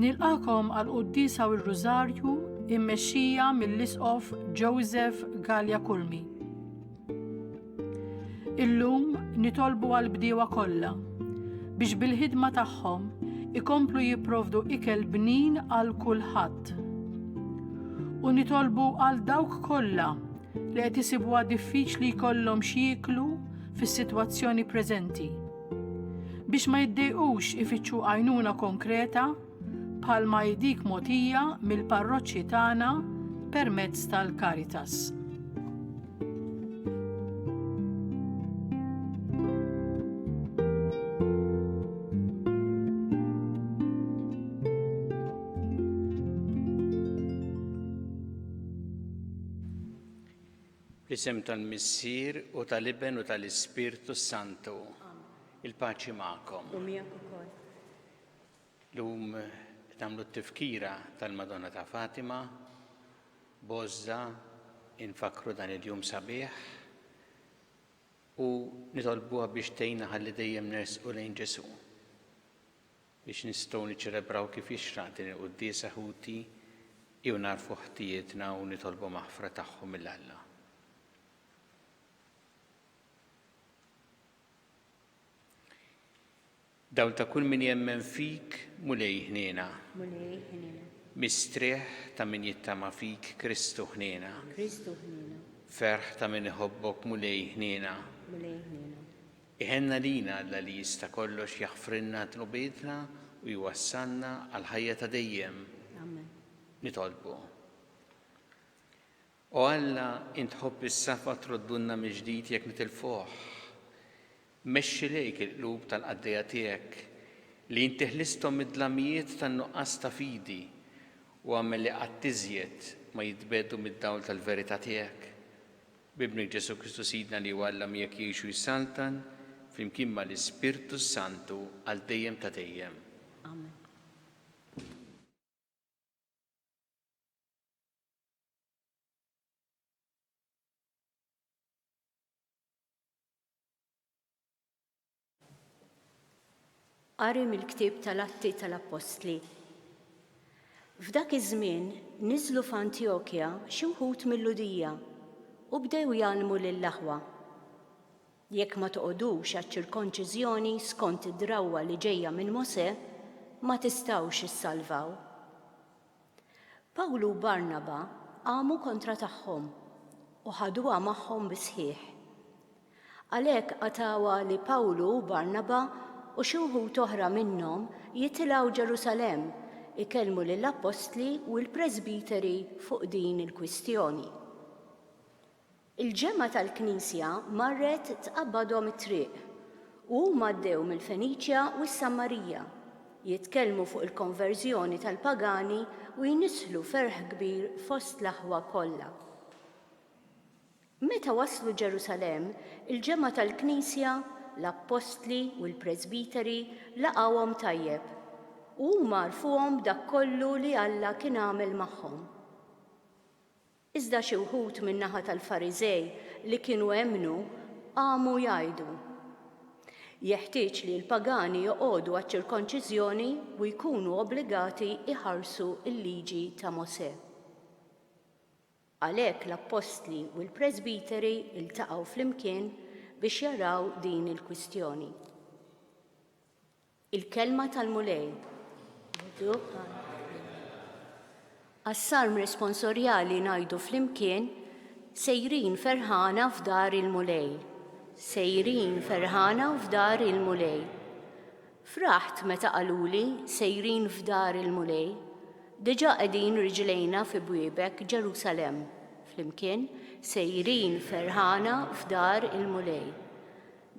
Nilqakom għal quddisa u r-Rużarju immexxija mill-Isqof Joseph Gallia Kulmi. Illum nitolbu għal bdiewa kollha biex bil-ħidma tagħhom ikomplu jipprovdu ikel bnin għal kulħadd. U nitolbu għal dawk kollha li qed isibuha diffiċli jkollhom x'jieklu fis-sitwazzjoni preżenti. biex ma jiddejqux ifittxu għajnuna konkreta bħalma hi dik mogħtija mill-parroċċi tagħna permezz tal-Caritas. Fl-isem tal-Missier u tal-Iben u tal-Ispirtu s-Santu. Il-paċi magħkom. U miegħek ukoll. Lum tagħmlu t-tifkira tal-Madonna ta' Fatima, Bozza, infakru dan il-jum sabiħ u nitolbuha biex tgħinna ħalli dejjem nersqu lejn Ġesu. biex nistgħu niċċelebraw kif jixraq din il-quddiesa ħuti jew nagħrfu ħtijietna u nitolbu maħfra tagħhom mil Alla. Dawl ta' kull min jemmen fik, Mulej ħniena. Mulej ħniena. Mistrieħ ta' min jittama fik, Kristu ħniena. Kristu ħniena. Ferħ ta' min iħobbok, Mulej ħniena. Mulej ħniena. Iħenna lina Alla li jista' kollox jaħfrilna dnubietna u jwassalna għall-ħajja ta' dejjem. Amen. Nitolbu. O Alla, int tħobb is-safa troddulna mill-ġdid jekk nitilfuh. Mexxi lejk il-qlub tal-qaddejja tiegħek li inti ħlisthom mid-dlamijiet tan-nuqqas ta' fidi u agħmel li qatt iżjed ma jitbiegħdu mid-dawl tal-verità tiegħek. B'Ibnek Ġesù Kristu Sidna li hu Alla miegħek jgħix u jissaltan flimkien mal-Ispirtu s-Santu għal dejjem ta' dejjem. Amen. Qari mill-ktieb tal-Atti tal-Appostli. F'dak iż-żmien niżlu f'Antjokja xi wħud mill-Lhudija u bdew jgħallmu lill-aħwa. Jekk ma toqgħodux għaċ-ċirkonċiżjoni skont id-drawwa li ġejja minn Mosè, ma tistgħux issalvaw. Pawlu u Barnaba qamu kontra tagħhom u ħaduha magħhom bis-sħiħ. Għalhekk qatawha li Pawlu u Barnaba u xi wħud oħra minnhom jitilgħu Ġerusalemm ikellmu lill-appostli u l-presbiteri fuq din il-kwistjoni. Il-ġemgħa tal-Knisja marret tqabbadhom it-triq, u huma għaddew mill-Feniċja u s-Sammarija, jitkellmu fuq il-konverżjoni tal-pagani u jnissħlu ferħ kbir fost l-aħwa kollha. Meta waslu Ġerusalemm, il-ġemgħa tal-Knisja, l-appostli u l-presbiteri laqgħuhom tajjeb, u huma għarfuhom b'dak kollu li Alla kien għamel magħhom. Iżda xi wħud min-naħa tal-Fariżej li kienu emmnu qamu jgħidu, Jeħtieġ li l-pagani joqogħdu għaċ-ċirkonċiżjoni u jkunu obbligati jħarsu l-Liġi ta' Mosè. Għalhekk l-appostli u l-presbiteri ltaqgħu flimkien biex jaraw din il-kwistjoni. Il-kelma tal-Mulej. Għas-salm responsorjali ngħidu flimkien, Sejrin ferħana f'dar il-Mulej. Sejrin ferħana f'dar il-Mulej. Fraħt meta qaluli sejrin f'dar il-Mulej. Diġà qegħdin riġlejna fi bwiebek Ġerusalemm. Flimkien, sejrin ferħana f'dar il-Mulej.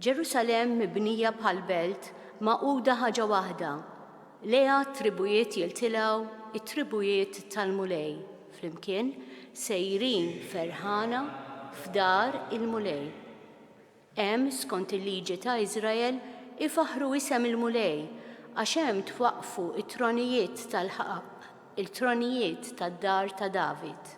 Ġerusalemm mibnija bħal belt magħquda ħaġa waħda, lejha t-tribujiet jiltilgħu, it-tribujiet tal-Mulej, flimkien, sejrin ferħana f'dar il-Mulej. Hemm, skont il-liġi ta' Iżrael, ifaħħru isem il-Mulej, għax hemm twaqqfu t-tronijiet tal-ħaqq, il-tronijiet tad-dar ta' David.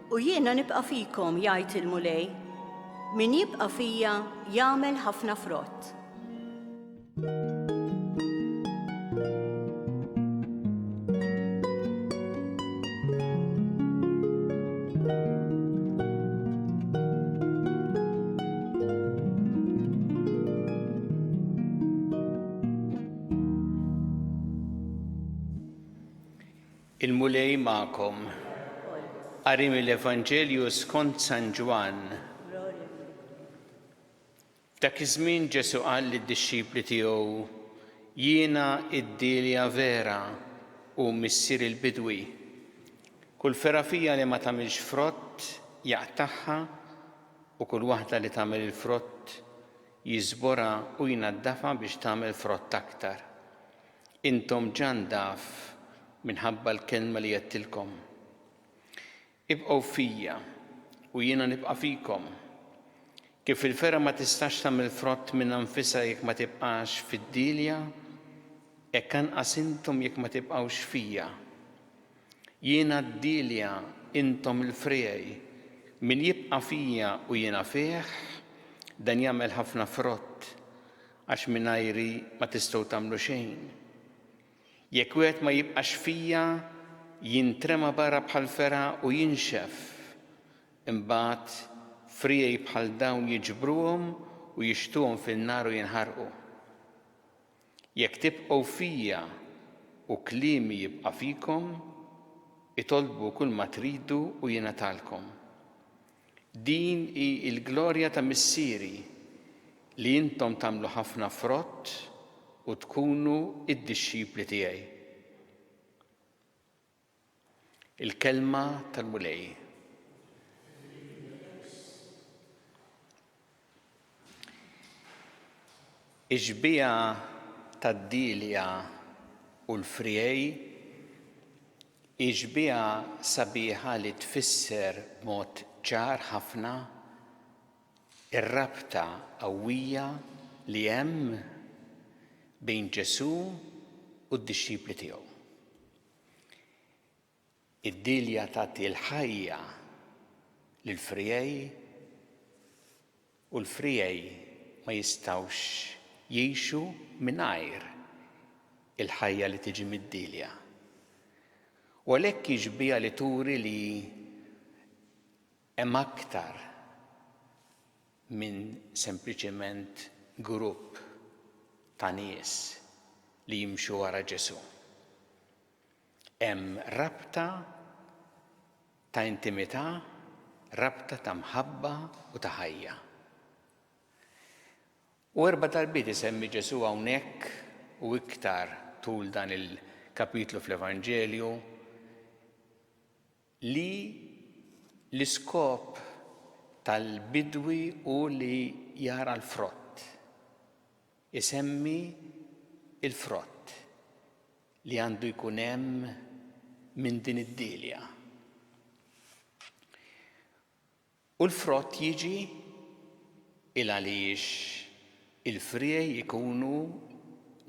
U jiena nibqa' fikom, jgħid il-Mulej, min jibqa' fija jagħmel ħafna frott. Il-Mulej magħkom. Qari mill-Evanġelju skont San Ġwann. F'dak iż-żmien Ġesù qal lid-dixxipli tiegħu, Jiena d-dielja vera u Missier il-bidwi. Kull fergħa fija li ma tagħmilx frott jaqtagħha u kull waħda li tagħmel il-frott jiżborha u jnaddafha biex tagħmel frott aktar. Intom ġandaf minħabba l-kelma li għedtilkom. Ibqgħu fija, u jiena nibqa' fikom. Kif il-fergħa ma tistax tagħmel frott minnha nfisha jekk ma tibqax fid-dielja, hekk anqas intom jekk ma tibqgħux fija. Jiena d-dielja, intom il-friegħi. Min jibqa' fija u jiena fih, dan jagħmel ħafna frott, Għax mingħajri ma tistgħu tagħmlu xejn. Jekk wieħed ma jibqax fija, jintrema barra bħal fergħa u jinxef. Imbagħad friegħi bħal dawn jiġbruhom u jixttuhom fin-nar u jinħarqu. Jekk tibqgħu fija u kliemi jibqa' fikom, itolbu kulma tridu u jingħatalkom. Din hi l-glorja ta' Missieri, li intom tagħmlu ħafna frott u tkunu d-dixxipli tiegħi. Il-Kelma tal-Mulej. Ix-xbieha tad-dielja u l-friegħi hi xbieha sabiħa li tfisser b'mod ċar ħafna r-rabta qawwija li hemm bejn Ġesù u d-dixxipli tiegħu. Id-dielja tagħti l-ħajja lill-friegħi u l-friegħi ma jistgħux jgħixu mingħajr il-ħajja li tiġi mid-dielja. U għalhekk hi xbieha li turi li hemm aktar minn sempliċement grupp ta' nies li jimxu wara Ġesù. Hemm rabta ta' intimità, rabta ta' mħabba u ta' ħajja. U erba' darbiet isemmi Ġesù hawnhekk u iktar tul dan il-kapitlu fl-Evanġelju li l-iskop tal-bidwi hu li jara l-frott, isemmi l-frott li għandu jkun hemm minn din id-dielja. U l-frott jiġi? Il għaliex il-friegħi jkunu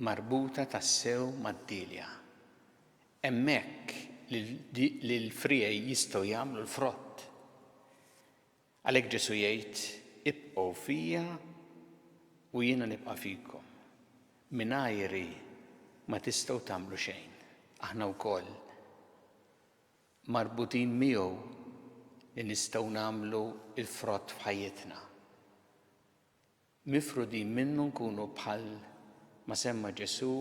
marbuta tassew mad-dielja. Hemmhekk li l-friegħi jistgħu jagħmlu l-frott. Għalhekk Ġesù jgħid, Ibqgħu fija u jiena nibqa' fikom. Mingħajri ma tistgħu tagħmlu xejn. Aħna wkoll. marbutin miegħu li nistgħu nagħmlu l-frott f'ħajjitna. Mifrudin minnu nkunu bħal ma semma Ġesù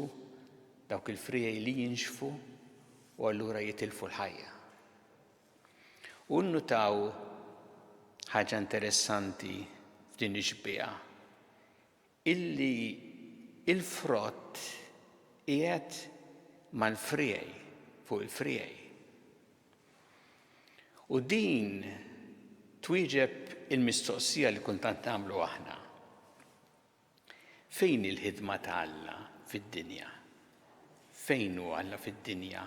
dawk il-friegħi li jinxfu u allura jitilfu l-ħajja. U nnutaw ħaġa interessanti f'din ix-xbieha. illi l-frott qiegħed mal-friegħi, fuq il-friegħi. U din twieġeb il-mistoqsija li kultant nagħmlu aħna. Fejn il-ħidma ta' Alla fid-dinja? Fejn hu Alla fid-dinja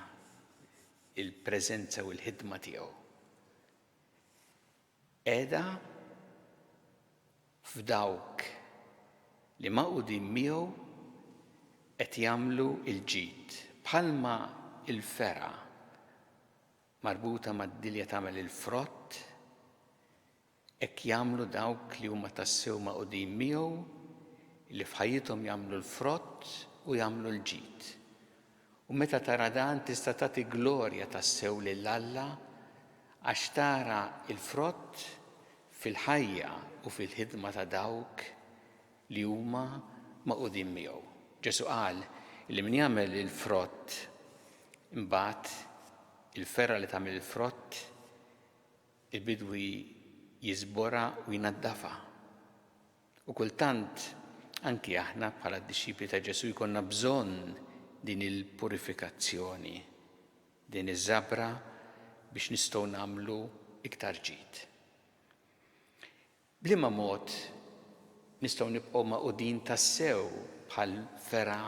il-preżenza u l-ħidma tiegħu? Qiegħda f'dawk li magħqudin miegħu qed jagħmlu l-ġid. Bħalma l-fergħa marbuta mad-dilja tagħmel il-frott, hekk jagħmlu dawk li huma tassew magħqudin miegħu li f'ħajjithom jagħmlu l-frott u jagħmlu l-ġid. U meta tara dan tista' tagħti glorja tassew lil Alla għax tara l-frott fil-ħajja u fil-ħidma ta' dawk li huma magħqudin miegħu. Ġesù qal li min jagħmel il-frott imbagħad il-fergħa li tagħmel il-frott il-bidwi jiżborha u jnaddafha. U kultant anki aħna bħala d-dixxipli ta' Ġesù jkollna bżonn din il-purifikazzjoni, din iż-żabra biex nistgħu nagħmlu iktar ġid. Bliema mod nistgħu nibqgħu magħqudin tassew bħal vera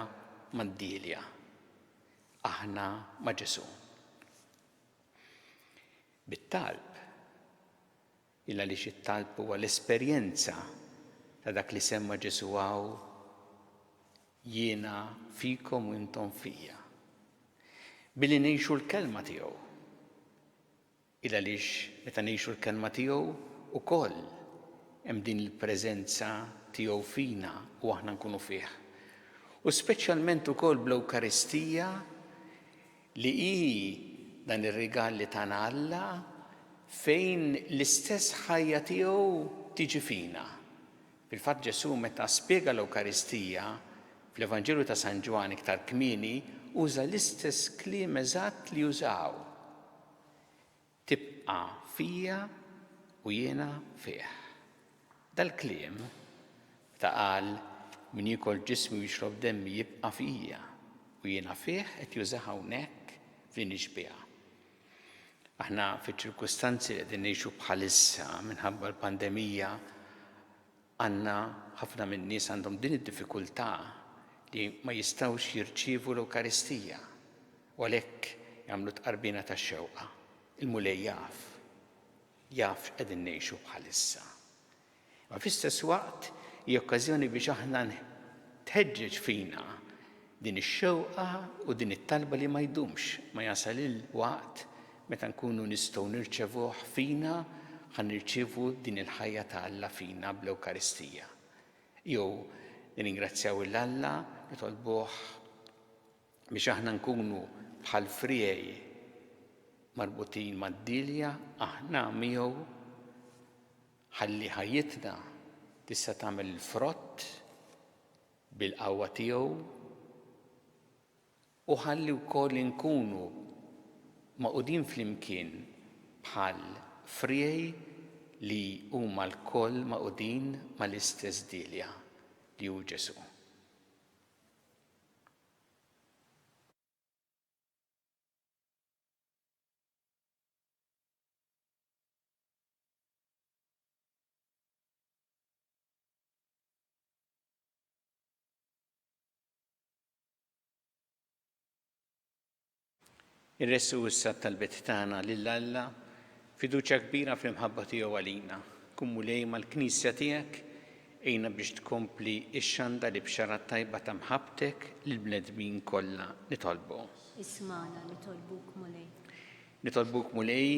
mad-dielja, aħna ma' Ġesù. Bit-talb. Il għaliex it-talb huwa l-esperjenza ta' dak li semma Ġesù hawn, Jiena fikom u intom fija. Billi ngħixu l-kelma tiegħu. Il għaliex meta ngħixu l-kelma tiegħu ukoll hemm din il-preżenza tiegħu fina u aħna nkunu fih. U speċjalment ukoll bl-Ewkaristija li hi dan ir-rigal li tana Alla fejn l-istess ħajja tiegħu tiġi fina. Fil-fatt Ġesù meta spjega l-Ewkaristija fl-Evanġelju ta' San Ġwann iktar kmieni uża l-istess kliem eżatt li użaw Tibqa' fija u jiena fih. Dal-kliem, meta qal min jiekol ġismi u jixrob demmi jibqa' fija u jiena fih qed jużah hawnhekk f'din ix-xbieha. Aħna fiċ-ċirkustanzi li qegħdin ngħixu bħalissa minħabba l-pandemija Għandna ħafna min-nies għandhom din id-diffikultà li ma jistgħux jirċievu l-Ewkaristija u għalhekk jagħmlu tqarbina tax-xewqa. Il-Mulej jaf. Jaf x'qegħdin ngħixu bħalissa. Imma fl-istess waqt hi okkażjoni biex aħna tħeġġeġ fina Din ix-xewqa u din it-talba li ma jdumx, ma jasal il-waqt meta nkunu nistgħu nirċevuh fina, ħa nirċievu din il-ħajja ta' Alla fina bl-Ewkaristija. Jew nirringrazzjaw 'il Alla, nitolbuh biex aħna nkunu bħal friegħi marbutin mad-dielja aħna miegħu ħalli ħajjitna tista' tagħmel il-frott bil-qawwa tiegħu, u ħalli wkoll inkunu magħqudin flimkien bħal friegħi li huma lkoll magħqudin mal-istess Dielja, li hu Ġesù. Irressu issa t-talbit tagħna lil Alla, fiduċja kbira fl-imħabba tiegħu għalina. Kun mulej mal-Knisja tiegħek, għinna biex tkompli xxanda li bxara t-tajba ta' mħabbtek lill-bnedmin kollha nitolbu. Ismagħna nitolbuk Mulej. Nitolbuk Mulej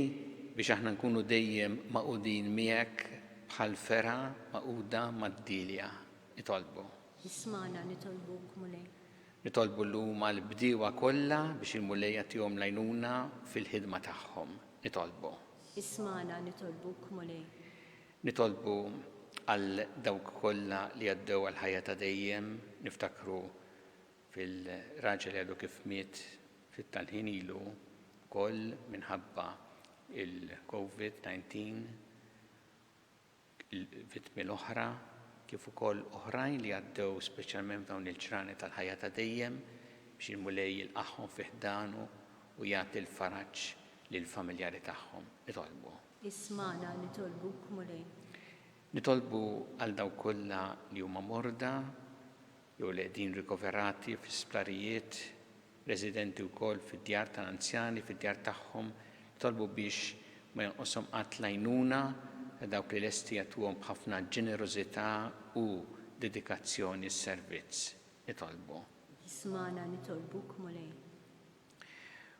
biex aħna nkunu dejjem magħqudin miegħek bħal fergħa magħquda mad-dielja. Nitolbu. Ismagħna, nitolbuk Mulej. Nitolbu llum għall-bdiewa kollha biex il-Mulej jagħtihom l-għajnuna fil-ħidma tagħhom. Nitolbu. Ismagħna, nitolbuk Mulej. Nitolbu għal dawk kollha li għaddew għall-ħajja ta' dejjem, niftakru fil-raġel li għadu kif miet ftit tal-ħin ilu wkoll minħabba l-Covid 19, il-vittmi l-oħra kif ukoll oħrajn li għaddew speċjalment f'dawn il-ġranet tal-ħajja ta' dejjem biex il-Mulej jilqagħhom fi ħdanu u jagħti l-faraġ lill-familjari tagħhom. Nitolbu. Ismagħna, nitolbuk, Mulej. Nitolbu għal dawk kollha li huma morda, jew li qegħdin rikoverati fi sptarijiet, residenti wkoll fid-djar tal-anzjani, fid-djar tagħhom, jitolbu biex ma jonqoshom qatt l-għajnuna ta' dawk li lesti jagħtuhom b'ħafna ġenerożità u dedikazzjoni s-servizz. Nitolbu. Ismagħna nitolbuk, Mulej.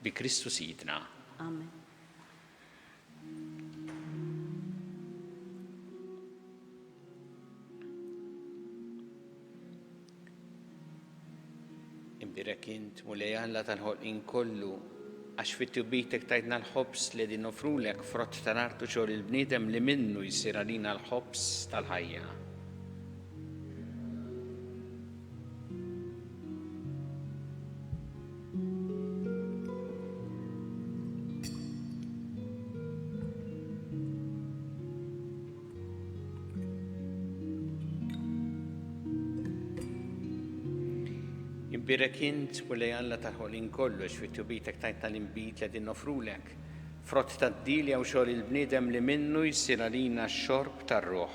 Bi Kristu Sidna. Amen. Imbirek int, Mulej Alla tal-ħolqin kollu, għax fit-tubitek tajtna l-ħobs li din nofrulek frott tal-artu xogħol il-bniedem li minnu jsir għalina l-ħobs tal-ħajja. Imbirek int u li Alla tal-ħolin kollu xfittu bitek tajt tal-imbit li din nofrulek. Frott tad-dil jew xogħol il-bniedem li minnu jsir għalina x-xorb tar-ruħ.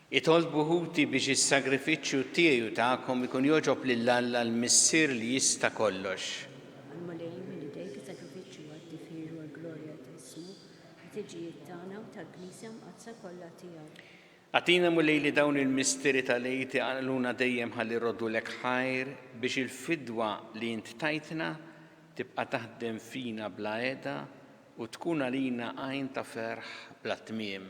Itolbu ħuti biex is-sagrifiċċju tiegħi u tagħkom ikun jogħġob lil Alla l-Missier li jista' kollox. Imma lejn minn idejk is-sagrifiċċju għad-difir u għall-glorja ta' ismu, ħtiġijiet tagħna u tal-Knisja Mqaddsa kollha tiegħu. Agħtina, Mulej, li dawn il-misteri tal-Għid iqanqluna dejjem ħalli jroddulek ħajr, biex il-fidwa li int tajtna tibqa' taħdem fina bla qiegħda u tkun għalina għajn ta' ferħ bla tmiem.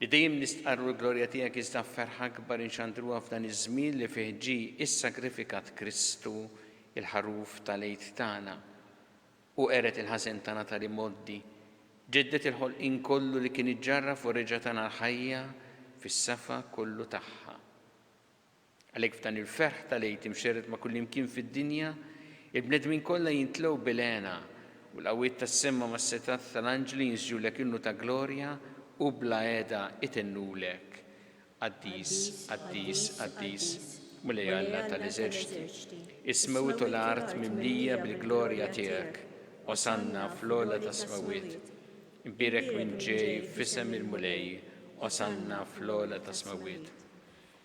Li dejjem nistqarru l-glorja tiegħek iżda f'ferħ akbar inxandruha f'dan iż-żmien li fih ġie ssagrifikat Kristu, il-Ħaruf tal-Għid tagħna, u qered il-ħażen tagħna ta' l-imgħoddi, ġedded il-ħolqien kollu li kien iġġarraf u reġa' tana l-ħajja fis-safa kollu tagħha. Għalhekk f'dan il-ferħ tal-Għid imxerred ma' kullimkien fid-dinja, il-bnedmin kollha jimtlew bil-hena, u l-qawwiet tas-sema mas-setgħat tal-anġli jinżġulek innu ta' glorja u bla heda itennulek, Qaddis, qaddis, qaddis, Mulej Alla tal-eżerċti, is-smewwiet u l-art mimlija bil-glorja tiegħek, Osanna fl-ogħla tas-smewwiet. Imbierek min ġej f'isem il-Mulej, Osanna fl-ogħla tas-smewwiet.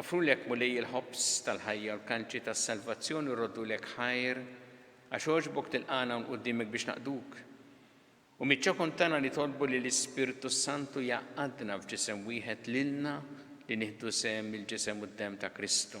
Offrulek, Mulej, il-ħobż tal-ħajja u l-kalċi tas-salvazzjoni u rroddulek ħajr, għax għoġbok tilqagħna hawn quddimek biex naqduk. Hu miċ-ċokon tagħna nitolbu li l-Ispirtu s-Santu jgħaqqadna f'ġisem wieħed lilna li nieħdu sehem mill-ġisem u d-demm ta' Kristu.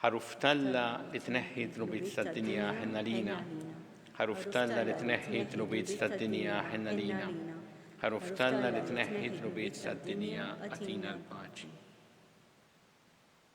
Ħaruf talla li tneħħi d-dnubiet tad-dinja ħenna lina. Ħaruf talla li tneħħi d-dnubiet tad-dinja ħenna lina. Ħaruf talla li tneħħi d-dnubiet tad-dinja għatina l-paċi.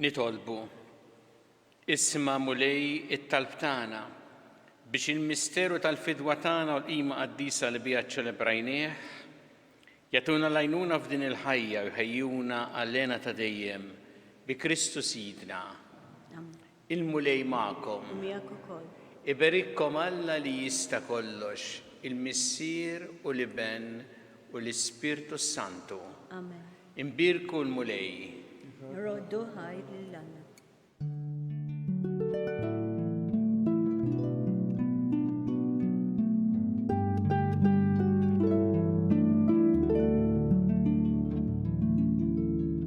Nitolbu. Isma' Mulej it-talb tagħna biex il-misteru tal-fidwa tagħna u l-qima qaddisa li biha ċċelebrajnieh jagħtuna lajnuna f'din il-ħajja u jħejjuna għal-lena ta' dejjem bi Kristu Sidna. Il-Mulej magħkom. U miegħek ukoll. Iberikkom Alla li jista' kollox, il-Missier u l-Iben u l-Ispirtu s-Santu. Amen. Inbierku l-Mulej. Nroddu ħaj lil Alla.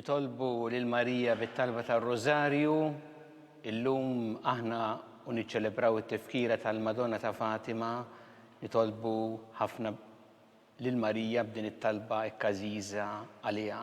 nitolbu lil Marija bit-talba tar-Rożarju, illum aħna u niċċelebraw it-tifkira tal-Madonna ta' Fatima, nitolbu ħafna lil Marija b'din it-talba ekkażiża għaliha.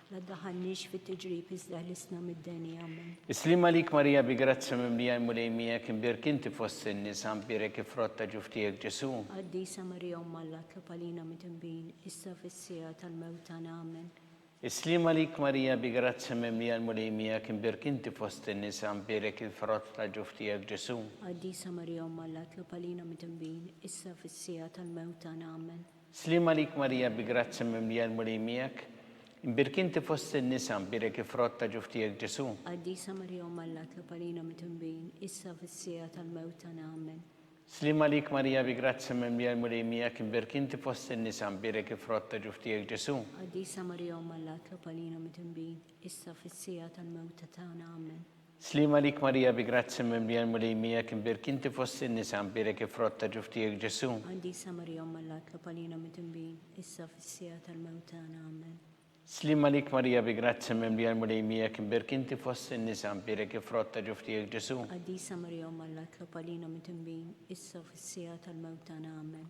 La ddaħħalniex fit-tiġrib iżda ħlisna mid-deni. Amen. Is-sliem għalik Marija bi grazzja mimlija l-Mulej miegħek, imbierk inti fost in-nisa, mbierek il-frott ta' ġuf tiegħek Ġesù. Qaddisa Marija Omm Alla tlob għalina midinbin, issa u fis-siegħa tal-mewt tagħna. Amen. Is-sliem għalik Marija bi grazzja mimlija l-Mulej miegħek, imbierk inti fost in-nisa, mbierek il-frott ta' ġuf tiegħek Ġesù. Qaddisa Marija Omm Alla tlob għalina midinbin, issa u fis-siegħa tal-mewt tagħna. Amen. Sliem għalik Marija bi grazzja mimlija l-Mulej miegħek, imbierk inti fost in-nisa, mbierek il-frott ta' ġuf tiegħek Ġesù. Qaddisa Marija Omm Alla tlob għalina mitnbin, issa fis-siegħa tal-mewt tagħna. Amen. Sliem għalik Marija bi grazzja mimlija l-Mulej miegħek, imbierk inti fost in-nisa, mbierek il-frott ta' ġuf tiegħek Ġesù. Qaddisa Marija Omm Alla tlob għalina mitnbin, issa fis-siegħa tal-mewt tagħna. Amen. Sliema għalik Marija bi grazzja mimlija l-Mulej miegħek imbierk inti fost in-nisa mbierek il-frott ta' ġuf tiegħek Ġesu'. Qaddisa Marija Omm Alla tlob għalina midinbin issa u fis-siegħa tal-mewt tagħna. Amen. Sliema għalik Marija bi grazzja mimlija l-Mulej miegħek imbierk inti fost in-nisa mbierek il-frott ta' ġuf tiegħek Ġesu'. Qaddisa Marija Omm Alla tlob għalina midinbin issa u fis-siegħa tal-mewt tagħna. Amen.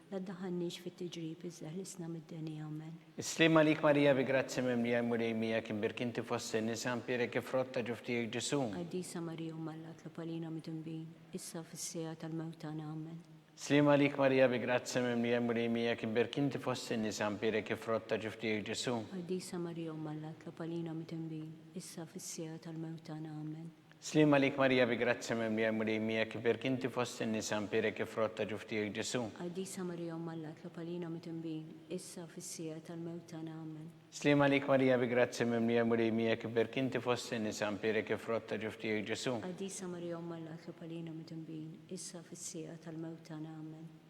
La ddaħħalniex fit-tiġrib, iżda ħlisna mid-deni. Amen. Is-sliem għalik Marija bi grazzja mimlija l-Mulej miegħek, imbierk inti fost in-nisa, mpierek il-frott ta' ġuf tiegħek Ġesù. Qaddisa Marija Omm Alla tlob għalina midinbin, issa u fis-siegħa tal-mewt tagħna. Amen. Sliem għalik Marija bi grazzja mimlija l-Mulej miegħek, imbierk inti fost in-nisa, mpierek il-frott ta' ġuf tiegħek Ġesù. Qaddisa Marija Omm Alla tlob għalina midinbin, issa u fis-siegħa tal-mewt tagħna. Amen. Sliem għalik Marija bi grazzja mimlija l-Mulej miegħek, iberk inti fost in-nisa, mpierek il-frott ta' ġuf tiegħek Ġesu'. Qaddisa Marija Omm Alla tlob għalina mitnbin, issa u fis-siegħa tal-mewt tagħna. Amen. Sliem għalik Marija bi grazzja mimlija l-Mulej miegħek, iberk inti fost in-nisa, mpierek il-frott ta' ġuf tiegħek Ġesu'. Qaddisa Marija Omm Alla tlob għalina mitnbin, issa u fis-siegħa tal-mewt tagħna. Amen.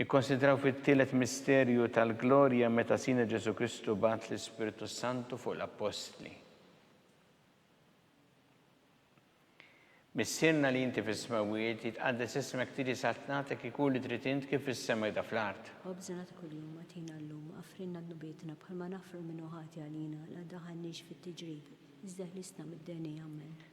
Nikkonsidraw fit-tielet misterju tal-glorja meta Sina Ġesù Kristu bagħat l-Ispirtu s-Santu fuq l-Appostli. Missierna li inti fis-smewwiet, jitqaddes ismek tiġi saltnatek ikun li trid int kif fis-sema jda fl-art. Ħobżna ta' kuljum agħtina llum, aghfrilna dnubietna bħalma naghfru lil min hu ħati għalina, la ddaħħalniex fit-tiġrib, iżda ħlisna mid-deni. Amen.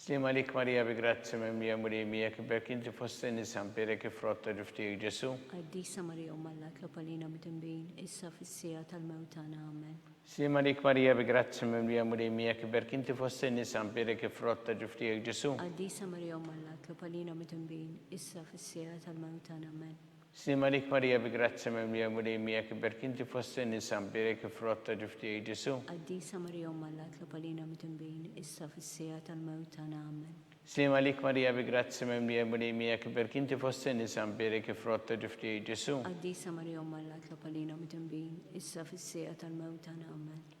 Sliem għalik Marija bi grazzja mimlija Mulej miegħek, b'hekk inti fost in-nisa mpièrek il-frott ta' ġuf tiegħek Ġesù. Qaddisa Marija Omm Alla tlob għalina midinbin issa fis-siegħa tal-mewt tagħna. Amen. Sliem għalik Marija bi grazzja mimlija Mulej miegħek, b'hekk inti fost in-nisa mpièrek il-frott ta' ġuf tiegħek Ġesù. Qaddisa Marija Omm Alla tlob għalina midinbin issa fis-siegħa tal-mewt tagħna. Amen. Slim għalik Marija bi grazzja mimlija l-Mulej miegħek iberk inti fost in-nisa mbierek il-frott ta' ġuf tiegħi Ġesu'. Qaddisa Marija Omm Alla tlob għalina midinbin issa fis-siegħa tal-mewt tagħna Amen. Slim għalik Marija bi grazzja mimlija l-Mulej miegħek iberk inti fost in-nisa mbierek il-frott ta' ġuf tiegħi Ġesu'. Qaddisa Marija Omm Alla tlob għalina midinbin issa fis-siegħa tal-mewt tagħna Amen.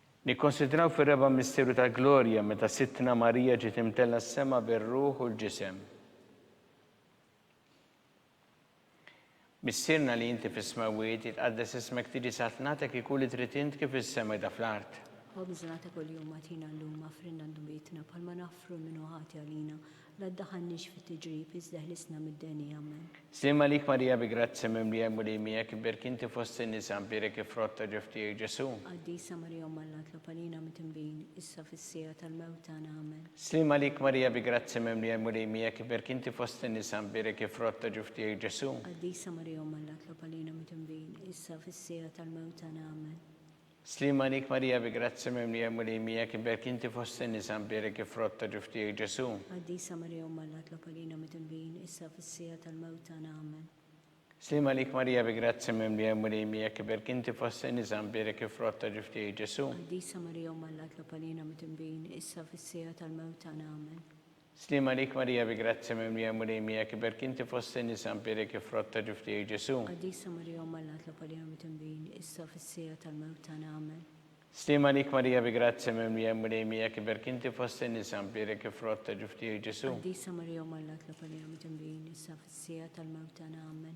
Nikkonsidraw fir-reba' misteru tal-glorja meta Sidtna Marija ġiet imtellgħa s-sema bir-ruħ u l-ġisem. Missierna li inti fis-smewwiet, jitqaddes ismek tiġi saltnatek ikun li trid int kif is-sema jda fl-art. Ħobżna ta' kuljum agħtina llum, aħfrilna dnubietna bħalma naħfru lil min hu ħati għalina, La ddaħħalniex fi tiġrib, iżda ħlisna mid-deni. Amen. Sliem għalik Marija bi grazzja mimlija l-Mulej miegħek, iberki inti fost in-nisa, nbierek il-frott ta' ġuf tiegħek Ġesù. Qaddisa Marija Omm Alla tlob għalina mitnbin, issa fis-siegħa tal-mewt tagħna. Amen. Sliem għalik Marija bi grazzja mimlija l-Mulej miegħek, iberki inti fost in-nisa, nbierek il-frott ta' ġuf tiegħek Ġesù. Qaddisa Marija Omm Alla tlob għalina mitnbin, issa fis-siegħa tal-mewt tagħna. Amen. Sliema għalik Marija bi grazzja mimlija l-Mulej miegħek iberk inti fost in-nisa mbierek il-frott ta' ġuf tiegħek Ġesu'. Qaddisa Marija Omm Alla tlob għalina midnbin issa u fis-siegħa tal-mewt tagħna. Amen. Sliema għalik Marija bi grazzja mimlija l-Mulej miegħek iberk inti fost in-nisa mbierek il-frott ta' ġuf tiegħek Ġesu'. Qaddisa Marija Omm Alla tlob għalina midnbin issa u fis-siegħa tal-mewt tagħna. Amen. Sliem għalik Marija bi grazzja mimlija l-Mulej miegħek iberk inti fost in-nisa mpiegħrek il-frott ta' ġuf tiegħi Ġesu'. Qaddisa Marija Omm Alla tlob għalina mitnbin issa u fis-siegħa tal-mewt tagħna Amen. Sliem għalik Marija bi grazzja mimlija l-Mulej miegħek iberk inti fost in-nisa mpiegħrek il-frott ta' ġuf tiegħi Ġesu'. Qaddisa Marija Omm Alla tlob għalina mitnbin issa u fis-siegħa tal-mewt tagħna Amen.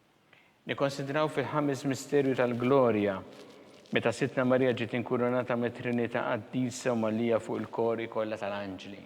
Nikkonsidraw fil-Ħames Misterju tal-Glorja, meta Sidtna Marija ġiet inkurunata mit-Trinità Qaddisa u mgħallija fuq il-kori kollha tal-anġli.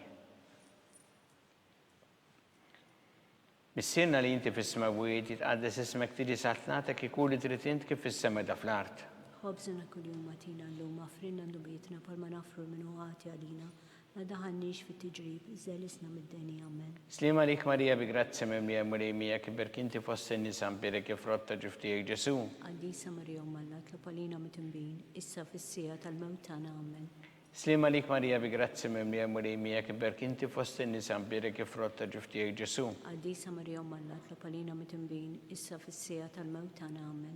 Missierna li inti fis-smewwiet, jitqaddes ismek tiġi saltnatek ikun li trid int kif fis-sema da fl-art. Ħobżna kuljum agħtina llum, aħfrilna dnubietna bħalma naħfru lil min hu ħati għalina, Ma daħalniex fit-tiġrib, iżda ħlisna mid-deni. Amen. Sliem għalik Marija bi grazzja mimlija l-Mulej miegħek, iberki inti fost in-nisa, mpielek il-frott ta' ġuf tiegħek Ġesu'. Qaddisa Marija Omm Alla, itlob għalina mitnbin, issa fis-siegħa tal-mewt tagħna. Amen. Sliem għalik Marija bi grazzja mimlija l-Mulej miegħek, iberki inti fost in-nisa, mpielek il-frott ta' ġuf tiegħek Ġesu'. Qaddisa Marija Omm Alla, itlob għalina mitnbin, issa fis-siegħa tal-mewt tagħna. Amen.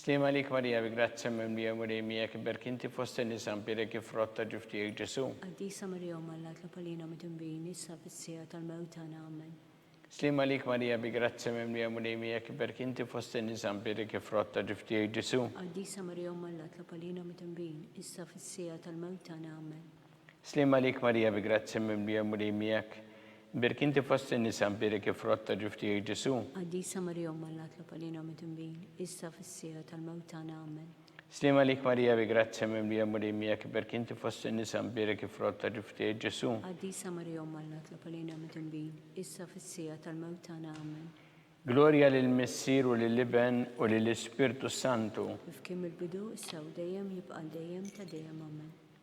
Sliem għalik Marija bi grazzja mimlija Mulej miegħek iberk inti fost in-nisa mbierek il-frott ta' ġuf tiegħek Ġesu'. Qaddisa Marija Omm Alla tlob għalina midinbin issa u fis-siegħa tal-mewt tagħna. Amen. Sliem għalik Marija bi grazzja mimlija Mulej miegħek iberk inti fost in-nisa mbierek il-frott ta' ġuf tiegħek Ġesu'. Qaddisa Marija Omm Alla tlob għalina midinbin issa u fis-siegħa tal-mewt tagħna. Amen. Sliem għalik Marija bi grazzja mimlija l-Mulej miegħek, mbirik inti fost in-nisa mbirik il-frott ta' ġuf tiegħek Ġesu'. Qaddisa Marija Omm Alla tlob għalina mitnbin, issa fis-siegħa tal-mewt tagħna. Amen. Sliem għalik Marija bi grazzja mimlija l-Mulej miegħek, mbirik inti fost in-nisa mbirik il-frott ta' ġuf tiegħek Ġesu'. Qaddisa Marija Omm Alla tlob għalina mitnbin, issa fis-siegħa tal-mewt tagħna. Amen. Glorja lill-Missier u lill-Iben u lill-Ispirtu s-Santu. Kif kien mill-bidu, issa u dejjem, jibqa' għal dejjem ta' dejjem. Amen.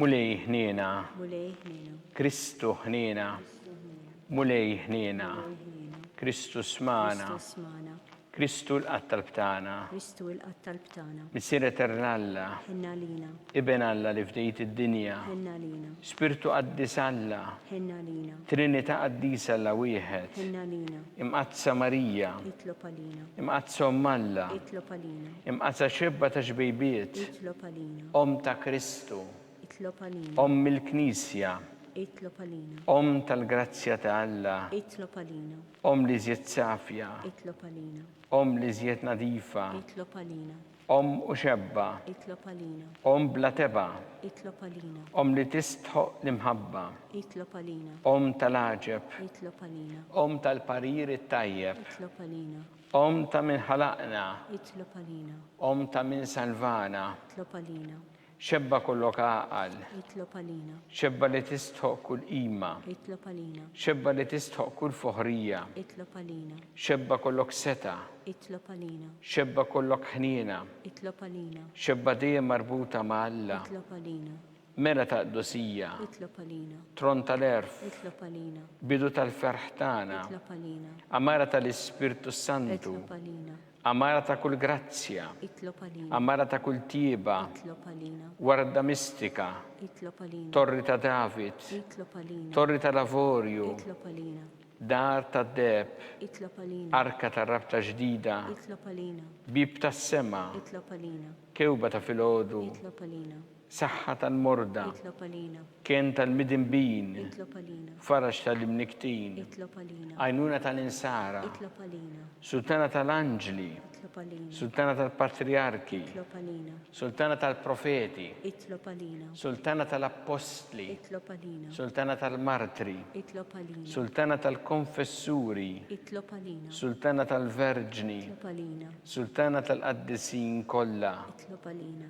Mulej ħniena. Mulej ħniena. Kristu ħniena. Kristu ħniena. Mulej ħniena. Mulej ħniena. Kristu smana. Kristu smana. Kristu l-qatt tal-btana. Kristu l-qatt tal-btana. Missier Etern Alla. Ħenna lina. Iben Alla li fdejt id-dinja. Ħenna lina. Spirtu Qaddis Alla. Ħenna lina. Trinita Qaddis Alla wieħed. Ħenna lina. Imqaddsa Marija. Itlob għalina. Imqaddsa Omm Alla. Itlob għalina. Imqatgħa xebba ta' xbejbiet, Omm ta' Kristu, Omm il-Knisja, Omm tal-grazzja ta' Alla, Omm l-iżjed safja, Omm l-iżjed nadifa, Omm u xebba, Omm bla tebgħa, Omm li tistħoqq l-imħabba, Omm tal-għaġeb, Omm tal-parir it-tajjeb, Omm ta' min ħalaqna. Itlob għalina. Omm ta' min salvana. Itlob għalina. Xebba kollok għaqal. Itlob għalina. Xebba li tistħoq kull qima. Itlob għalina. Xebba li tistħoq kull foħrija. Itlob għalina. Xebba kollok seta. Itlob għalina. Xebba kollok ħniena. Itlob għalina. Xebba dejjem marbuta ma' Alla. Itlob għalina. Mela ta' qdusija. Itlob għalina. Tron tal-għerf. Itlob għalina. Bidu tal-ferħ tagħna. Itlob għalina. Għamara tal-Ispirtu s-Santu. Itlob għalina. Għamara ta' kull grazzja. Itlob għalina. Għamara ta' kull tjieba. Itlob għalina. Warda mistika. Itlob għalina. Torri ta' David. Itlob għalina. Torri tal-avorju. Itlob għalina. Dar tad-deb. Itlob għalina. Arka tar-rabta ġdida. Itlob għalina. Bib tas-sema. Itlob għalina. Kewba ta' filgħodu. Itlob għalina. Saħħa tal-morda. Kenn tal-midinbin. Faraġ tal-imnikktin. Għajnuna tal-insara. Sultana tal-anġli. Sultana tal-patriarki. Sultana tal-profeti. Sultana tal-appostli. Sultana tal-martri. Sultana tal-konfessuri. Sultana tal-verġni. Sultana tal-qaddisin kollha.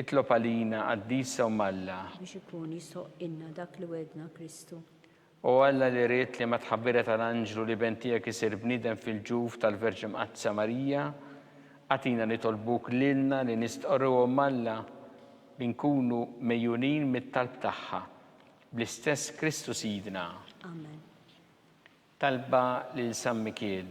Itlob għalina, Qaddisa Omm Alla. Biex ikun jsoqqilna dak li wegħdna Kristu. O Alla li ridt li mat-tħabbira tal-anġlu l-Iben tiegħek isir bniedem fil-ġuf tal-Verġni Mqaddsa Marija, agħtina nitolbuk lilna li nistqorru Omm Alla, li nkunu megħjunin mit-talb tagħha. Bl-istess Kristu Sidna. Amen. Talba lil San Mikiel.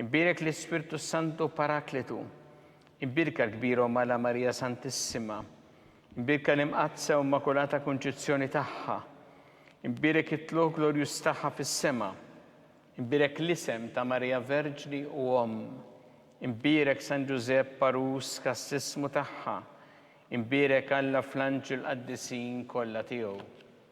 Inbierek l-Ispirtu s-Santu Parakletu, inbierka l-Kbira u Mala Marija Santissima, inbierka l-Imqaddsa u Immakulata Kunċizzjoni tagħha, inbierek it-tlugħ glorjuż tagħha fis-sema, inbierek l-isem ta' Marija Verġni u Omm, inbierek San Ġużepp għarus kastissmu tagħha, inbierek Alla fl-anġli l-qaddisin kollha tiegħu.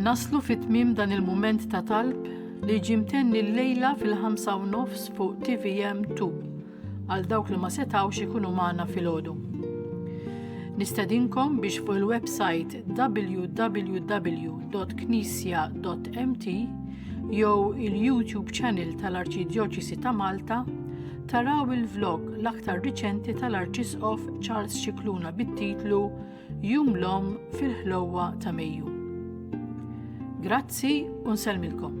Naslu fit-tmim dan il-mument ta' talb li ġimtenni l-lejla fil-5 u nofs fuq TVM 2 għal dawk li ma setawx ikunu magħna fil-ħodu. Nistedinkom biex fuq il-website www.knisja.mt jew il-YouTube channel tal-Arċidjoċisi ta' Malta Taraw il-vlog l-aktar riċenti tal-Arċisqof Charles Xikluna bit-titlu Jum l-Om fil-ħlowa ta' Mejju. Grazzi u nselmilkom.